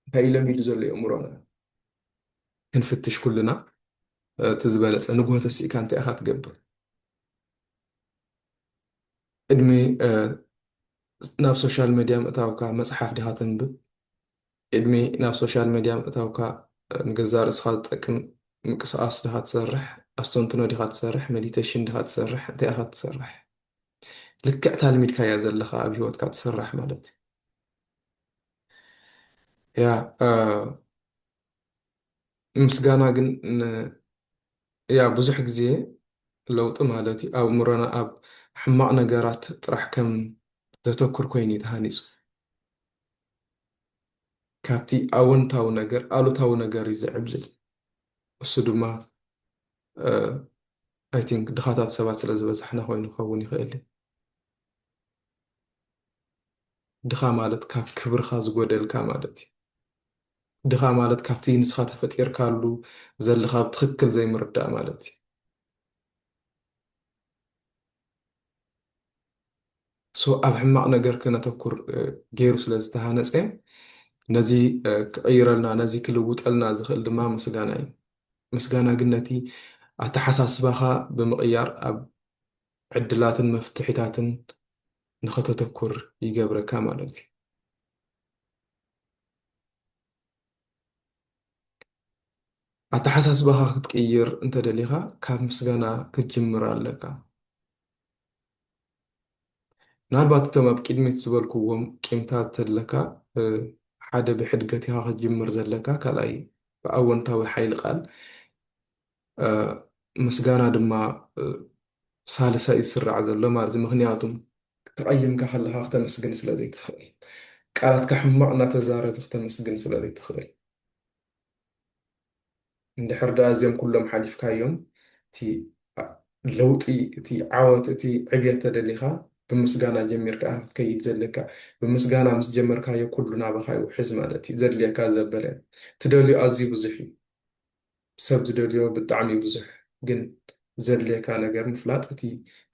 እንታይ እዩ ለሚዱ ዘሎ የእምሮና? ክንፍትሽ ኩልና እቲ ዝበለጸ ንግሆ ተሲእካ እንታይ ኢኻ ትገብር? ቅድሚ ናብ ሶሻል መዲያ ምእታውካ መጽሓፍ ዲኻ ተንብብ? ቅድሚ ናብ ሶሻል መዲያ ምእታውካ ንገዛእ ርእስኻ ዝጠቅም ምቅስቓስ ዲኻ ትሰርሕ? ኣስተንትኖ ዲኻ ትሰርሕ? መዲተሽን ዲኻ ትሰርሕ? እንታይ ኢኻ ትሰርሕ? ልክዕ እታ ልሚድካያ ዘለኻ ኣብ ሂወትካ ትስራሕ ማለት እዩ። ያ ምስጋና ግን እያ ብዙሕ ግዜ ለውጢ ማለት እዩ ኣእምሮና ኣብ ሕማቅ ነገራት ጥራሕ ከም ዘተኩር ኮይኑ እዩ ተሃኒጹ ካብቲ ኣወንታዊ ነገር ኣሉታዊ ነገር እዩ ዝዕብልል እሱ ድማ ኣይ ቲንክ ድኻታት ሰባት ስለ ዝበዛሕና ኮይኑ ክኸውን ይኽእል እዩ ድኻ ማለት ካብ ክብርኻ ዝጎደልካ ማለት እዩ ድኻ ማለት ካብቲ ንስኻ ተፈጢርካሉ ዘለኻ ብትኽክል ዘይምርዳእ ማለት እዩ። ሶ ኣብ ሕማቕ ነገር ከነተኩር ገይሩ ስለ ዝተሃነፀ ነዚ ክቕይረልና ነዚ ክልውጠልና ዝኽእል ድማ ምስጋና እዩ። ምስጋና ግን ነቲ ኣተሓሳስባኻ ብምቕያር ኣብ ዕድላትን መፍትሒታትን ንኸተተኩር ይገብረካ ማለት እዩ። ኣተሓሳስባኻ ክትቅይር እንተደሊኻ ካብ ምስጋና ክትጅምር ኣለካ። ምናልባት እቶም ኣብ ቅድሚት ዝበልኩዎም ቂምታት ተለካ ሓደ ብሕድገት ኢኻ ክትጅምር ዘለካ ካልኣይ ብኣወንታዊ ሓይሊ ቃል ምስጋና ድማ ሳልሳይ ዝስራዕ ዘሎ ማለት እዩ ምክንያቱም ተቐይምካ ከለኻ ክተመስግን ስለ ዘይትኽእል ቃላትካ ሕማቕ እናተዛረብ ክተመስግን ስለ ዘይትኽእል እንድሕር ደኣ እዚኦም ኩሎም ሓሊፍካዮም እቲ ለውጢ እቲ ዓወት እቲ ዕብየት ተደሊኻ ብምስጋና ጀሚርካ ክትከይድ ዘለካ ብምስጋና ምስ ጀመርካዮ ኩሉ ናባኻ ይውሕዝ ማለት እዩ ዘድልየካ ዘበለ ትደልዩ ኣዝዩ ብዙሕ እዩ ሰብ ዝደልዮ ብጣዕሚ ብዙሕ ግን ዘድልየካ ነገር ምፍላጥ እቲ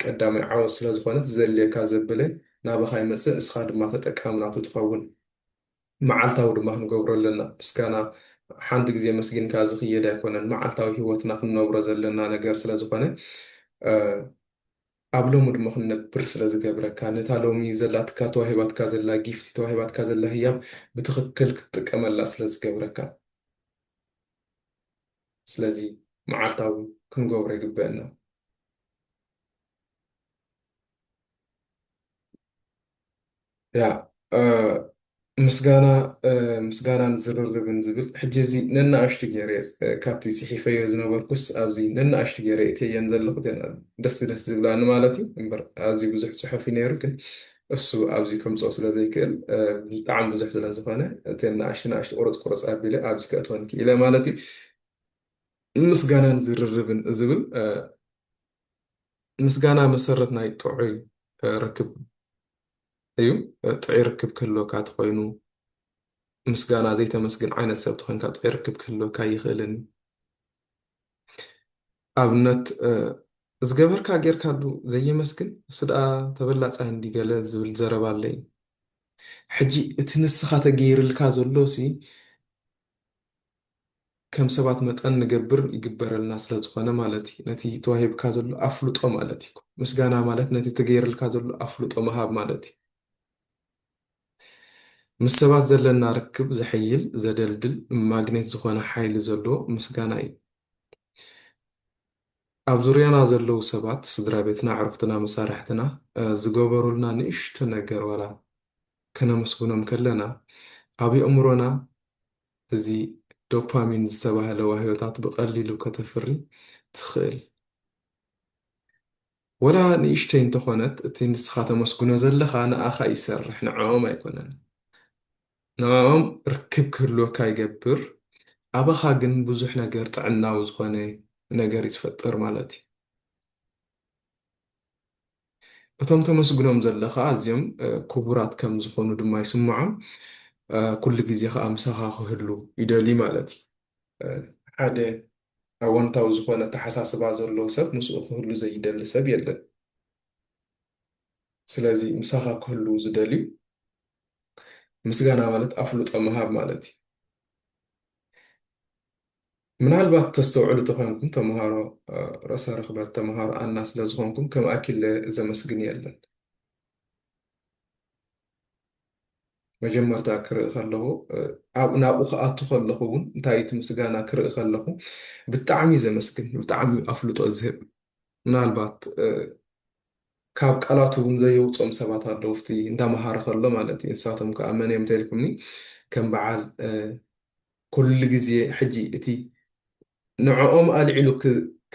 ቀዳማይ ዓወት ስለ ዝኾነ እቲ ዘድልየካ ዘበለ ናባኻ ይመጽእ እስኻ ድማ ተጠቃሚ ናቱ ትኸውን መዓልታዊ ድማ ክንገብሮ ኣለና ምስጋና ሓንቲ ግዜ ኣመስጊንካ ዝኽየድ ኣይኮነን መዓልታዊ ሂወትና ክንነብሮ ዘለና ነገር ስለ ዝኾነ ኣብ ሎሚ ድማ ክንነብር ስለ ዝገብረካ ነታ ሎሚ ዘላትካ ተዋሂባትካ ዘላ ጊፍቲ ተዋሂባትካ ዘላ ህያብ ብትኽክል ክትጥቀመላ ስለ ዝገብረካ ስለዚ መዓልታዊ ክንገብሮ ይግበእና። ያ ምስጋና ምስጋናን ዝርርብን ዝብል ሕጂ እዚ ነናእሽቱ ገይረ ካብቲ ጽሒፈዮ ዝነበርኩስ ኣብዚ ነናእሽቱ ገይረ እተየን ዘለኹ ደስ ደስ ዝብላኒ ማለት እዩ እምበር ኣዝዩ ብዙሕ ጽሑፍ እዩ ነይሩ ግን እሱ ኣብዚ ከምጽኦ ስለ ዘይክእል ብጣዕሚ ብዙሕ ስለ ዝኾነ እተን ንኣሽቱ ንኣሽቱ ቁርጽ ቁርጽ ኣቢለ ኣብዚ ከእትወን ክኢለ ማለት እዩ ምስጋናን ዝርርብን ዝብል ምስጋና መሰረት ናይ ጥዑይ ርክብ እዩ ጥዑይ ርክብ ክህልወካ ተኮይኑ ምስጋና ዘይተመስግን ዓይነት ሰብ ተኮይንካ ጥዑይ ርክብ ክህልወካ ይኽእልን ኣብነት ዝገበርካ ጌርካሉ ዘየመስግን እሱ ደኣ ተበላጻይ እንድዩ ገለ ዝብል ዘረባ ኣሎ እዩ። ሕጂ እቲ ንስኻ ተገይርልካ ዘሎሲ ከም ሰባት መጠን ንገብር ይግበረልና ስለ ዝኾነ ማለት እዩ። ነቲ ተዋሂብካ ዘሎ ኣፍልጦ ማለት እዩ። ምስጋና ማለት ነቲ ተገይርልካ ዘሎ ኣፍልጦ ምሃብ ማለት እዩ። ምስ ሰባት ዘለና ርክብ ዘሐይል፣ ዘደልድል፣ ማግኔት ዝኾነ ሓይሊ ዘለዎ ምስጋና እዩ። ኣብ ዙርያና ዘለዉ ሰባት፣ ስድራቤትና፣ ኣዕሩኽትና፣ መሳርሕትና ዝገበሩልና ንእሽቶ ነገር ዋላ ከነመስግኖም ከለና፣ ኣብ የእምሮና እዚ ዶፓሚን ዝተባህለ ዋህዮታት ብቐሊሉ ከተፍሪ ትኽእል። ወላ ንእሽተይ እንተኾነት እቲ ንስኻ ተመስግኖ ዘለኻ ንኣኻ ይሰርሕ ንዕኦም ኣይኮነን ንዕኦም ርክብ ክህልወካ ይገብር ኣባኻ ግን ብዙሕ ነገር ጥዕናዊ ዝኾነ ነገር እዩ ዝፈጥር ማለት እዩ እቶም ተመስግኖም ዘለኻ ኣዝዮም ክቡራት ከም ዝኾኑ ድማ ይስምዖም ኩሉ ግዜ ከኣ ምሳኻ ክህሉ ይደልዩ ማለት እዩ ሓደ ኣወንታዊ ዝኾነ ኣተሓሳስባ ዘለዎ ሰብ ምስኡ ክህሉ ዘይደሊ ሰብ የለን። ስለዚ ምሳኻ ክህልው ዝደልዩ ምስጋና ማለት ኣፍልጦ ምሃብ ማለት እዩ። ምናልባት ተስተውዕሉ ተኾይንኩም ተምሃሮ ርእሰ ርኽበት ተምሃሮ ኣና ስለዝኾንኩም ከም ኣኪለ ዘመስግን የለን። መጀመርታ ክርኢ ከለኹ ኣብኡ ናብኡ ክኣቱ ከለኹ እውን እንታይ እቲ ምስጋና ክርኢ ከለኹ ብጣዕሚ እዩ ዘመስግን ብጣዕሚ ኣፍልጦ ዝህብ ምናልባት ካብ ቃላቱ እውን ዘየውፅኦም ሰባት ኣለዉ ፍቲ እንዳመሃረ ከሎ ማለት እዩ ንሳቶም ከዓ መን እዮም ተልኩምኒ ከም በዓል ኩሉ ግዜ ሕጂ እቲ ንዕኦም ኣልዒሉ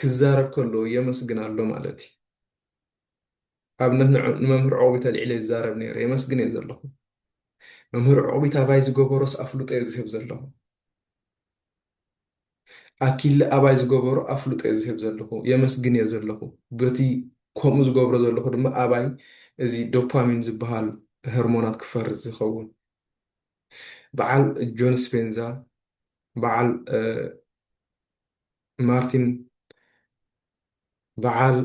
ክዛረብ ከሎ የመስግን ኣሎ ማለት እዩ ኣብነት ንመምህር ዑቕቢት ኣልዒለ ይዛረብ ነይረ የመስግን እየ ዘለኹ መምህር ዑቕቢት ኣባይ ዝገበሮስ ኣፍልጦ እየ ዝህብ ዘለኹ ኣኪለ ኣባይ ዝገበሮ ኣፍልጦ እየ ዝህብ ዘለኹ የመስግን እየ ዘለኹ በቲ ከምኡ ዝገብሮ ዘለኹ ድማ ኣባይ እዚ ዶፓሚን ዝበሃል ሆርሞናት ክፈርስ ዝኸውን በዓል ጆን ስፔንዛ በዓል ማርቲን በዓል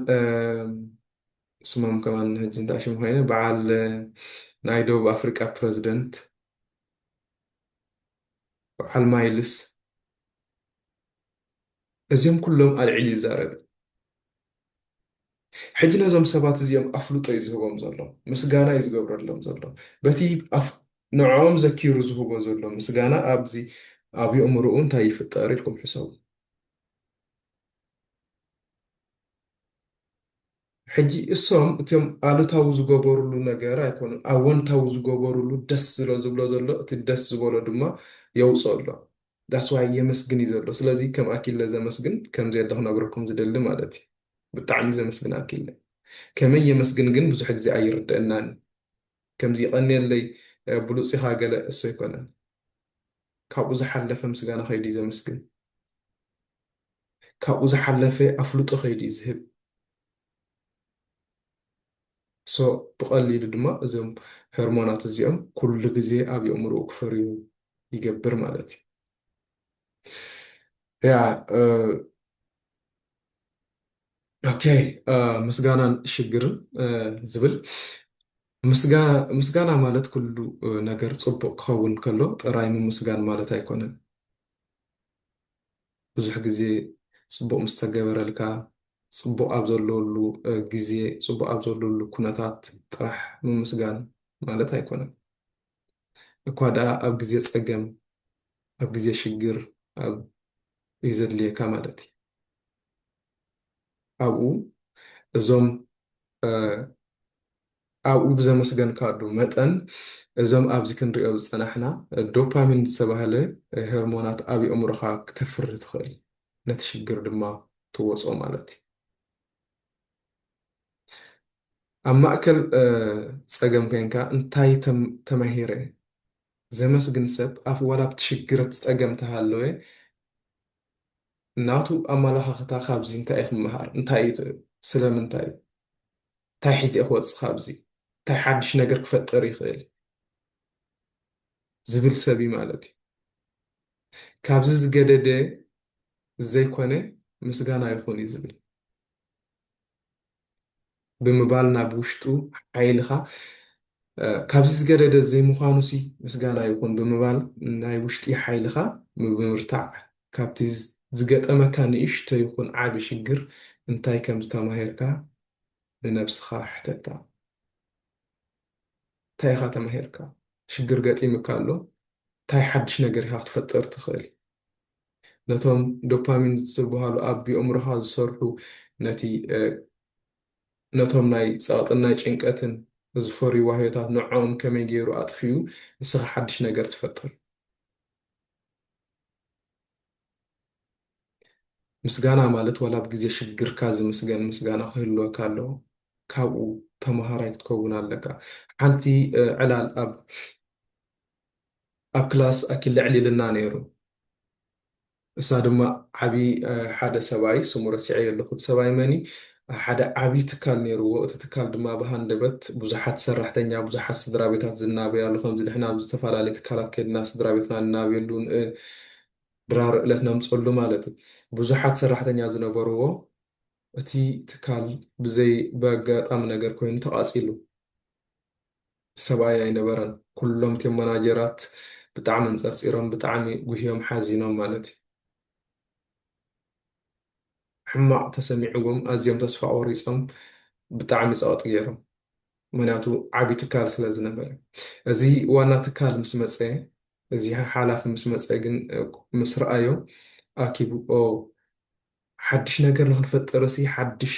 ስሞም ከማን ሕጂ እንታይ ሽም ኮይነ በዓል ናይ ደቡብ ኣፍሪቃ ፕረዚደንት በዓል ማይልስ እዚኦም ኩሎም ኣልዒሉ ይዛረብ ሕጂ ነዞም ሰባት እዚኦም ኣፍልጦ እዩ ዝህቦም ዘሎ ምስጋና እዩ ዝገብረሎም ዘሎ በቲ ንዕኦም ዘኪሩ ዝህቦ ዘሎ ምስጋና ኣብዚ ኣብ የእምርኡ እንታይ ይፍጠር ኢልኩም ሕሰቡ ሕጂ እሶም እትም ኣሉታዊ ዝገበሩሉ ነገር ኣይኮኑን ኣወንታዊ ዝገበሩሉ ደስ ዝሎ ዝብሎ ዘሎ እቲ ደስ ዝበሎ ድማ የውጾ ኣሎ ዳስ ዋይ የመስግን እዩ ዘሎ ስለዚ ከም ኣኪለ ዘመስግን ከም ዘየለ ክነግረኩም ዝደሊ ማለት እዩ ብጣዕሚ ዘመስግን ኣኪለ ከመይ የመስግን ግን ብዙሕ ግዜ ኣይርደእናን እዩ ከምዚ ይቀንየለይ ብሉጽ ኢኻ ገለ እሱ ኣይኮነን ካብኡ ዝሓለፈ ምስጋና ከይዱ እዩ ዘመስግን ካብኡ ዝሓለፈ ኣፍልጦ ከይዲ እዩ ዝህብ። so ብቀሊሉ ድማ እዞም ሆርሞናት እዚኦም ኩሉ ግዜ ኣብ የእምርኡ ክፈርዩ ይገብር ማለት እዩ። ያ ኦኬ ምስጋናን ሽግርን ዝብል ምስጋና ማለት ኩሉ ነገር ጽቡቅ ክኸውን ከሎ ጥራይ ምምስጋን ማለት ኣይኮነን። ብዙሕ ግዜ ጽቡቕ ምስ ተገበረልካ፣ ጽቡቕ ኣብ ዘለወሉ ግዜ፣ ጽቡቕ ኣብ ዘለወሉ ኩነታት ጥራሕ ምምስጋን ማለት ኣይኮነን። እኳ ደኣ ኣብ ግዜ ጸገም፣ ኣብ ግዜ ሽግር፣ ኣብ እዩ ዘድልየካ ማለት እዩ። ኣብኡ እዞም ኣብኡ ብዘመስገንካሉ መጠን እዞም ኣብዚ ክንሪኦ ዝጸናሕና ዶፓሚን ዝተባህለ ሄርሞናት ኣብ ኣእምሮኻ ክተፍሪ ትኽእል ነቲ ሽግር ድማ ትወጾ ማለት እዩ ኣብ ማእከል ጸገም ኮንካ እንታይ ተማሂረ ዘመስግን ሰብ ኣብ ዋላ ኣብቲ ሽግር ኣብቲ ጸገም ተሃለወ ናቱ ኣማላኻኽታ ካብዚ እንታይ ክመሃር እንታይ እዩ ትብል ስለምንታይ እንታይ ሒዘ ክወጽእ ካብዚ እንታይ ሓድሽ ነገር ክፈጥር ይኽእል ዝብል ሰብ እዩ ማለት እዩ ካብዚ ዝገደደ ዘይኮነ ምስጋና ይኹን እዩ ዝብል ብምባል ናብ ውሽጡ ሓይልኻ ካብዚ ዝገደደ ዘይምዃኑሲ ምስጋና ይኹን ብምባል ናይ ውሽጢ ሓይልኻ ምብምርታዕ ካብቲ ዝገጠመካ ንእሽቶ ይኹን ዓቢ ሽግር እንታይ ከም ዝተማሂርካ ንነብስኻ ሕተታ። እንታይ ኢኻ ተማሂርካ? ሽግር ገጢሙካ ኣሎ? እንታይ ሓድሽ ነገር ኢኻ ክትፈጥር ትኽእል? ነቶም ዶፓሚን ዝብሃሉ ኣብ ቢኦምሮኻ ዝሰርሑ ነቲ ነቶም ናይ ጸቕጥን ናይ ጭንቀትን ዝፈርዩ ዋህዮታት ንዕኦም ከመይ ገይሩ ኣጥፊኡ ንስኻ ሓድሽ ነገር ትፈጥር። ምስጋና ማለት ዋላ ኣብ ግዜ ሽግርካ ዝምስገን ምስጋና ክህልወካ ኣለዎ። ካብኡ ተመሃራይ ክትከውን ኣለካ። ሓንቲ ዕላል ኣብ ኣብ ክላስ ኣኪልዕል ኢልና ነይሩ እሳ ድማ ዓቢ ሓደ ሰብኣይ ስሙ ረሲዐዮ ኣለኩ እቲ ሰብኣይ መን እዩ ሓደ ዓቢ ትካል ነይርዎ እቲ ትካል ድማ ብሃንደበት ብዙሓት ሰራሕተኛ ብዙሓት ስድራቤታት ዝናበያሉ ከምዚ ንሕና ኣብ ዝተፈላለየ ትካላት ከድና ስድራቤትና ንናብየሉ ድራር እለት ነምጸሉ ማለት እዩ ብዙሓት ሰራሕተኛ ዝነበርዎ እቲ ትካል ብዘይ በጋጣሚ ነገር ኮይኑ ተቓጺሉ ሰብኣይ ኣይነበረን ኩሎም ቲም መናጀራት ብጣዕሚ ኣንጸርጺሮም ብጣዕሚ ጉህዮም ሓዚኖም ማለት እዩ ሕማቕ ተሰሚዕዎም ኣዝዮም ተስፋ ቆሪጾም ብጣዕሚ ጸቕጢ ጌሮም ምክንያቱ ዓቢ ትካል ስለ ዝነበረ እዚ ዋና ትካል ምስ መጸ እዚ ሓላፊ ምስ መጸ ግን ምስ ረኣዮ ኣኪቡ ኦ ሓድሽ ነገር ንክንፈጥርሲ ሓድሽ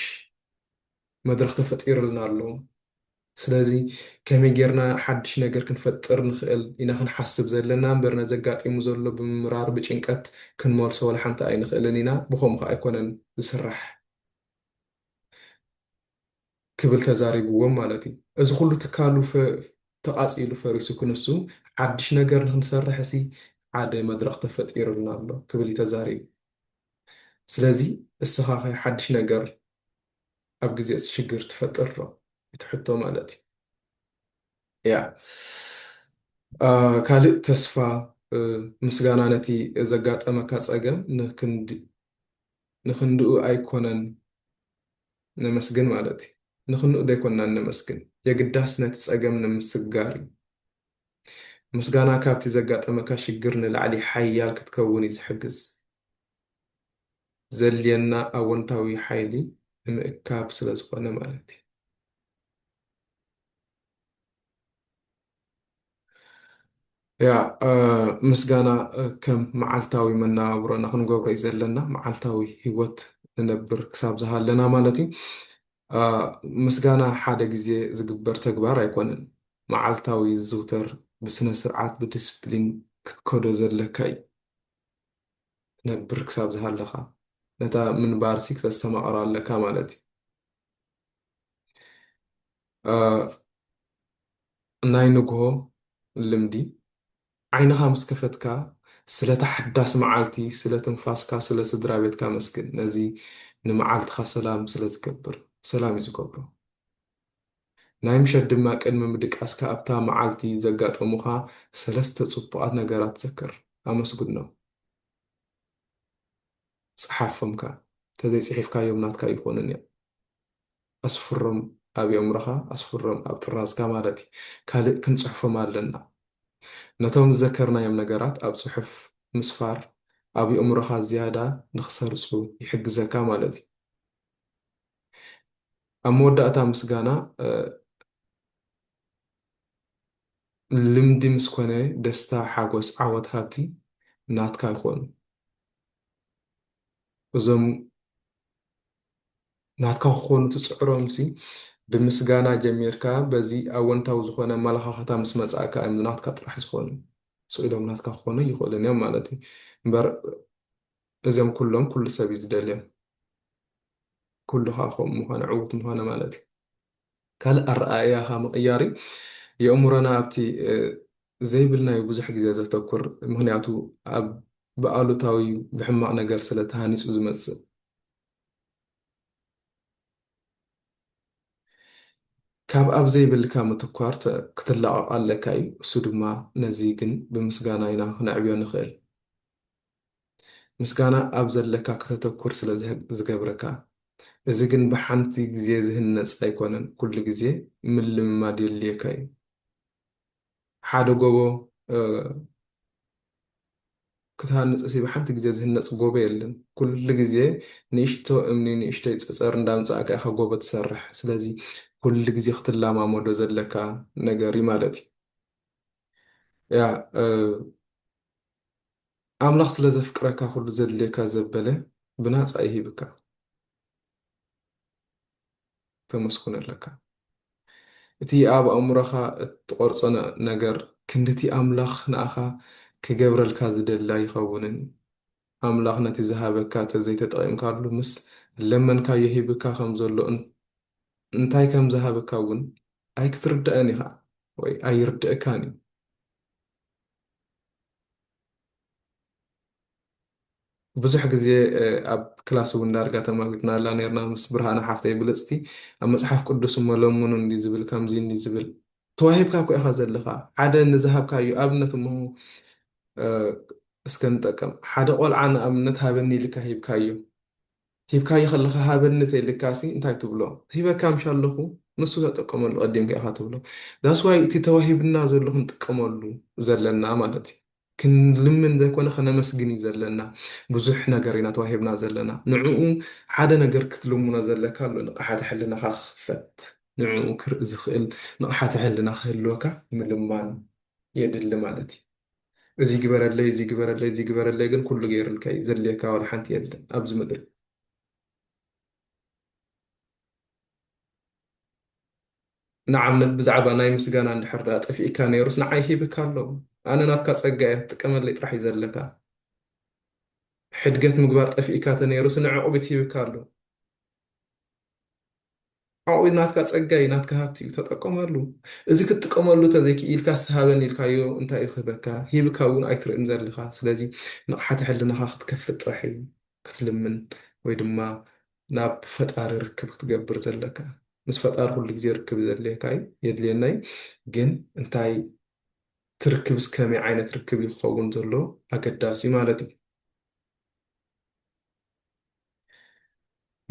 መድረኽ ተፈጢሩልና ኣሎ። ስለዚ ከመይ ጌርና ሓድሽ ነገር ክንፈጥር ንኽእል ኢና ክንሓስብ ዘለና እምበር ነዚ ኣጋጢሙ ዘሎ ብምምራር ብጭንቀት ክንመልሶ ዋላ ሓንቲ ኣይንኽእልን ኢና። ብኸምኡ ከኣ ኣይኮነን ዝስራሕ ክብል ተዛሪብዎም ማለት እዩ። እዚ ኩሉ ትካሉ ተቓጺሉ ፈሪሱ ክንሱ ሓድሽ ነገር ንክንሰርሕሲ ሓደ መድረኽ ተፈጢሩልና ኣሎ ክብል እዩ ተዛሪቡ። ስለዚ እስኻ ከ ሓድሽ ነገር ኣብ ግዜ እቲ ሽግር ትፈጥር ዶ እቲ ሕቶ ማለት እዩ ያ ካልእ ተስፋ ምስጋና ነቲ ዘጋጠመካ ጸገም ንክንድኡ ኣይኮነን ነመስግን ማለት እዩ ንክንኡ ደይኮንና ነመስግን የግዳስ ነቲ ጸገም ንምስጋር እዩ ምስጋና ካብቲ ዘጋጠመካ ሽግር ንላዕሊ ሓያል ክትከውን እዩ ዝሕግዝ። ዘድልየና ኣወንታዊ ሓይሊ ንምእካብ ስለ ዝኾነ ማለት እዩ። ያ ምስጋና ከም መዓልታዊ መነባብሮና ክንገብሮ እዩ ዘለና። መዓልታዊ ህይወት ንነብር ክሳብ ዝሃለና ማለት እዩ። ምስጋና ሓደ ግዜ ዝግበር ተግባር ኣይኮነን፣ መዓልታዊ ዝዝውተር ብስነ-ስርዓት ብድስፕሊን ክትከዶ ዘለካ እዩ። ክትነብር ክሳብ ዝሃለኻ ነታ ምንባርሲ ክተስተማቕራ ኣለካ ማለት እዩ። ናይ ንግሆ ልምዲ ዓይንኻ ምስ ከፈትካ ስለታ ሓዳስ መዓልቲ ስለ ትንፋስካ ስለ ስድራቤትካ ኣመስግን ነዚ ንመዓልትኻ ሰላም ስለ ዝገብር ሰላም እዩ ዝገብሮ ናይ ምሸት ድማ ቅድሚ ምድቃስካ ኣብታ መዓልቲ ዘጋጠሙኻ ሰለስተ ጽቡቃት ነገራት ዘክር ኣመስግኖም ጽሓፎም ከኣ ተዘይጽሒፍካዮም ናትካ ኣይኾኑን እዮም። ኣስፍሮም ኣብ የእምሮኻ ኣስፍሮም ኣብ ጥራዝካ ማለት እዩ ካልእ ክንጽሕፎም ኣለና ነቶም ዝዘከርናዮም ነገራት ኣብ ጽሑፍ ምስፋር ኣብ የእምሮኻ ዝያዳ ንኽሰርጹ ይሕግዘካ ማለት እዩ ኣብ መወዳእታ ምስጋና ልምዲ ምስ ኮነ ደስታ ሓጎስ ዓወት ሃብቲ ናትካ ይኾኑ እዞም ናትካ ክኾኑ ትጽዕሮምሲ ብምስጋና ጀሚርካ በዚ ኣወንታዊ ዝኾነ ኣመለኻኽታ ምስ መጻእካ እዮም ናትካ ጥራሕ ዝኾኑ። ስቕ ኢሎም ናትካ ክኾኑ ኣይኽእሉን እዮም ማለት እዩ። እምበር እዚኦም ኩሎም ኩሉ ሰብ እዩ ዝደልዮም። ኩሉ ከዓ ከምኡ ምዃነ ዕውት ምዃነ ማለት እዩ። ካልእ ኣረኣእያኻ ምቕያር እዩ። የእምሮና ኣብቲ ዘይብልናዩ ብዙሕ ግዜ ዘተኩር ምክንያቱ ኣብ ብኣሉታዊ ብሕማቕ ነገር ስለ ተሃኒጹ ዝመጽእ ካብ ኣብ ዘይብልካ ምትኳር ክትላቐቕ ኣለካ እዩ እሱ ድማ ነዚ ግን ብምስጋና ኢና ክነዕብዮ ንኽእል ምስጋና ኣብ ዘለካ ከተተኩር ስለ ዝገብረካ እዚ ግን ብሓንቲ ግዜ ዝህነጽ ኣይኮነን ኩሉ ግዜ ምልምማድ የድልየካ እዩ። ሓደ ጎቦ ክትሃንጽሲ ብሓንቲ ግዜ ዝህነጽ ጎቦ የለን። ኩሉ ግዜ ንእሽቶ እምኒ ንእሽቶይ ጸጸር እንዳምጻእካ ኢኻ ጎቦ ትሰርሕ። ስለዚ ኩሉ ግዜ ክትለማመዶ ዘለካ ነገር እዩ ማለት እዩ። ያ ኣምላኽ ስለ ዘፍቅረካ ኩሉ ዘድልየካ ዘበለ ብናጻ ይህብካ። ተመስጉን ኣለካ። እቲ ኣብ ኣእምሮኻ እትቐርጾ ነገር ክንድቲ ኣምላኽ ንኣኻ ክገብረልካ ዝደሊ ኣይኸውንን። ኣምላኽ ነቲ ዝሃበካ እንተዘይተጠቒምካሉ ምስ ለመንካዮ ሂብካ ከም ዘሎ እንታይ ከም ዝሃበካ እውን ኣይክትርዳእን ኢኻ ወይ ኣይርደእካን እዩ። ብዙሕ ግዜ ኣብ ክላስ እውን ዳርጋ ተማጒትናላ ኔርና ምስ ብርሃነ ሓፍተይ ብልጽቲ። ኣብ መጽሓፍ ቅዱስ እሞ ለምኑ እንድዩ ዝብል ከምዚ እንድዩ ዝብል ተዋሂብካ እኮ ኢኻ ዘለኻ ሓደ ንዝሃብካዮ ኣብነት እሞ እስከ ንጠቀም ሓደ ቆልዓ ንኣብነት ሃበኒ ኢልካ ሂብካዮ ሂብካዮ ከለኻ ሃበኒ ተኢልካሲ እንታይ ትብሎ ሂበካ ምሻ ኣለኹ ንሱ ተጠቀመሉ ቀዲምካ ኢኻ ትብሎ ዳስዋይ እቲ ተዋሂብና ዘሎ ክንጥቀመሉ ዘለና ማለት እዩ ክንልምን ዘይኮነ ክነመስግን እዩ ዘለና ብዙሕ ነገር ኢና ተዋሂብና ዘለና ንዕኡ ሓደ ነገር ክትልምኖ ዘለካ ኣሎ ንቅሓተ ሕልናኻ ክኽፈት ንዕኡ ክርኢ ዝኽእል ንቅሓተ ሕልና ክህልወካ ምልማን የድሊ ማለት እዩ እዚ ግበረለይ እዚ ግበረለይ እዚ ግበረለይ ግን ኩሉ ገይርልካ እዩ ዘድልየካ ዋላ ሓንቲ የለን ኣብዚ ምድሪ ንኣብነት ብዛዕባ ናይ ምስጋና እንድሕር ድኣ ጠፊእካ ነይሩስ ንዓይ ሂብካ ኣሎ ኣነ ናትካ ጸጋ እየ ክትጥቀመለይ ጥራሕ እዩ ዘለካ ሕድገት ምግባር ጠፊእካ ተነይሩስ ንዕቕቢት ሂብካ ኣሎ ዓቕቢት ናትካ ጸጋ እዩ ናትካ ሃብቲ እዩ ተጠቀመሉ እዚ ክትጥቀመሉ ተዘይክኢልካ ስሃበን ኢልካዮ እንታይ እዩ ክህበካ ሂብካ እውን ኣይትርእን ዘለካ ስለዚ ንቕሓተ ሕልናኻ ክትከፍት ጥራሕ እዩ ክትልምን ወይ ድማ ናብ ፈጣሪ ርክብ ክትገብር ዘለካ ምስ ፈጣሪ ኩሉ ግዜ ርክብ ዘድልየካ እዩ የድልየና እዩ ግን እንታይ እቲ ርክብስ ከመይ ዓይነት ርክብ እዩ ክኸውን ዘለዎ ኣገዳሲ ማለት እዩ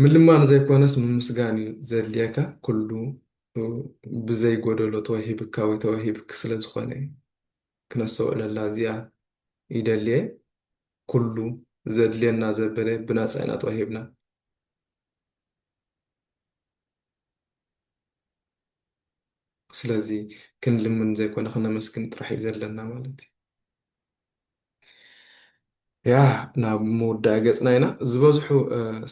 ምልማን ዘይኮነስ ምምስጋን እዩ ዘድልየካ ኩሉ ብዘይ ጎደሎ ተዋሂብካ ወይ ተዋሂብክ ስለ ዝኾነ እዩ ክነስተውዕለላ እዚኣ ይደልየ ኩሉ ዘድልየና ዘበለ ብናጻ ኢና ተዋሂብና። ስለዚ ክንልምን ዘይኮነ ክነመስግን ጥራሕ እዩ ዘለና ማለት እዩ። ያ ናብ መወዳኢ ገጽና ኢና። ዝበዝሑ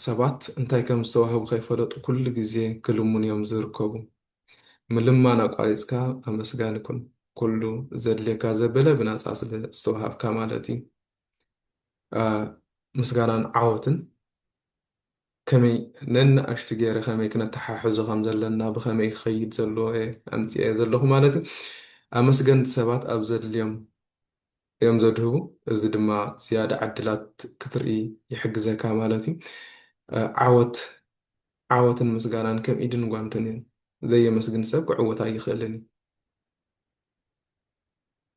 ሰባት እንታይ ከም ዝተዋህቡ ከይፈለጡ ኩሉ ግዜ ክልምኑ እዮም ዝርከቡ። ምልማን ኣቋሪጽካ ኣመስጋኒ ኩን። ኩሉ ዘድልየካ ዘበለ ብናጻ ስለ ዝተወሃብካ ማለት እዩ። ምስጋናን ዓወትን ከመይ ነንኣሽቱ ገይረ ከመይ ክነተሓሕዞ ከም ዘለና ብከመይ ክኸይድ ዘለዎ እየ ኣምጽኤ ዘለኹ ማለት እዩ። ኣመስገንቲ ሰባት ኣብ ዘድልዮም እዮም ዘድህቡ እዚ ድማ ዝያዳ ዕድላት ክትርኢ ይሕግዘካ ማለት እዩ። ዓወት ዓወትን ምስጋናን ከም ኢድን ጓንትን እዩ ዘየመስግን ሰብ ክዕወት ኣይኽእልን እዩ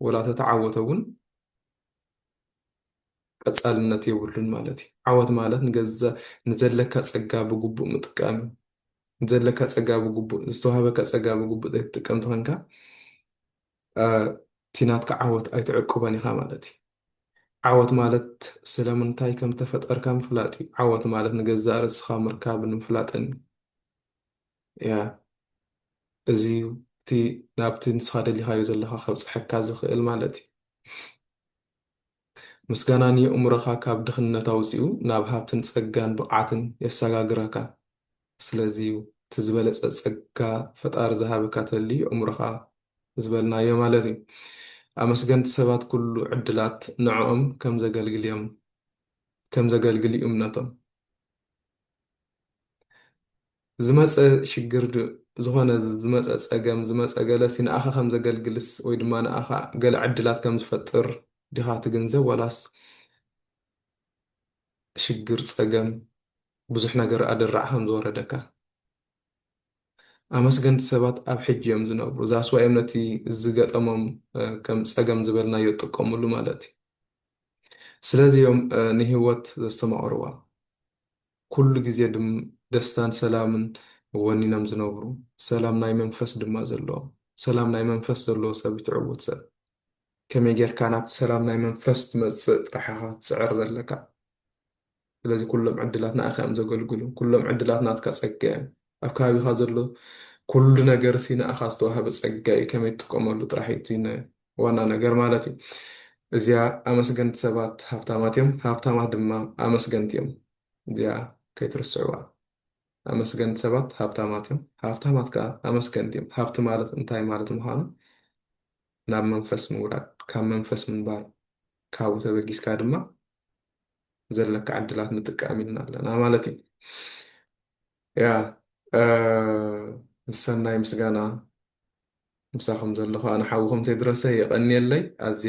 ወላ ተተዓወተ እውን ቀጻልነት የብሉን ማለት እዩ። ዓወት ማለት ንዘለካ ጸጋ ብግቡእ ምጥቃም እዩ። ንዘለካ ጸጋ ብግቡእ ዝተዋህበካ ጸጋ ብግቡእ ዘይትጥቀም ተኾንካ እቲ ናትካ ዓወት ኣይትዕቅቦን ኢኻ ማለት እዩ። ዓወት ማለት ስለምንታይ ከም እተፈጠርካ ምፍላጥ እዩ። ዓወት ማለት ንገዛእ ርእስኻ ምርካብን ምፍላጥን እያ። እዚ እዩ እቲ ናብቲ ንስኻ ደሊኻዮ ዘለኻ ከብጽሐካ ዝኽእል ማለት እዩ። ምስጋና ንየእምሮኻ ካብ ድኽነት ኣውጺኡ ናብ ሃብትን ጸጋን ብቕዓትን የሰጋግረካ። ስለዚ'ዩ እቲ ዝበለጸ ጸጋ ፈጣሪ ዝሃበካ ተሊ የእምሮኻ ዝበልናዮ ማለት'ዩ። ኣመስገንቲ ሰባት ኩሉ ዕድላት ንዕኦም ከም ዘገልግል'ዮም ከም ዘገልግል'ዩ እምነቶም። ዝመጸ ሽግር ድ ዝኾነ ዝመጸ ጸገም ዝመጸ ገለ'ሲ ንኣኻ ከም ዘገልግልስ ወይ ድማ ንኣኻ ገለ ዕድላት ከም ዝፈጥር ዲኻ ትግንዘብ ዋላስ ሽግር ጸገም ብዙሕ ነገር ኣደራዕ ከም ዝወረደካ ኣመስገንቲ ሰባት ኣብ ሕጂ እዮም ዝነብሩ ዛስ ዋይ እዮም ነቲ ዝገጠሞም ከም ጸገም ዝበልናዮ ዝጥቀምሉ ማለት እዩ ስለዚ እዮም ንህይወት ዘስተማቕርዋ ኩሉ ግዜ ድም ደስታን ሰላምን ወኒኖም ዝነብሩ ሰላም ናይ መንፈስ ድማ ዘለዎም ሰላም ናይ መንፈስ ዘለዎ ሰብ ይትዕውት ሰብ ከመይ ጌርካ ናብቲ ሰላም ናይ መንፈስ ትመጽእ ጥራሕ ኢኻ ትጽዕር ዘለካ። ስለዚ ኩሎም ዕድላት ንኣኻ እዮም ዘገልግሉ። ኩሎም ዕድላት ናትካ ጸጋ እዮም። ኣብ ከባቢኻ ዘሎ ኩሉ ነገርሲ ንኣኻ ዝተዋህበ ጸጋ እዩ። ከመይ ትጥቀመሉ ጥራሕ እዩ እቲ ዋና ነገር ማለት እዩ። እዚኣ ኣመስገንቲ ሰባት ሃብታማት እዮም፣ ሃብታማት ድማ ኣመስገንቲ እዮም። እዚኣ ከይትርስዕዋ። ኣመስገንቲ ሰባት ሃብታማት እዮም፣ ሃብታማት ከኣ ኣመስገንቲ እዮም። ሃብቲ ማለት እንታይ ማለት ምዃኑ ናብ መንፈስ ምውራድ፣ ካብ መንፈስ ምንባር፣ ካብኡ ተበጊስካ ድማ ዘለካ ዕድላት ምጥቃም ኢልና ኣለና ማለት እዩ። ያ ምስ ሰናይ ምስጋና ምሳኹም ዘለኹ ኣነ ሓውኹም ቴድሮሰ የቐንየለይ።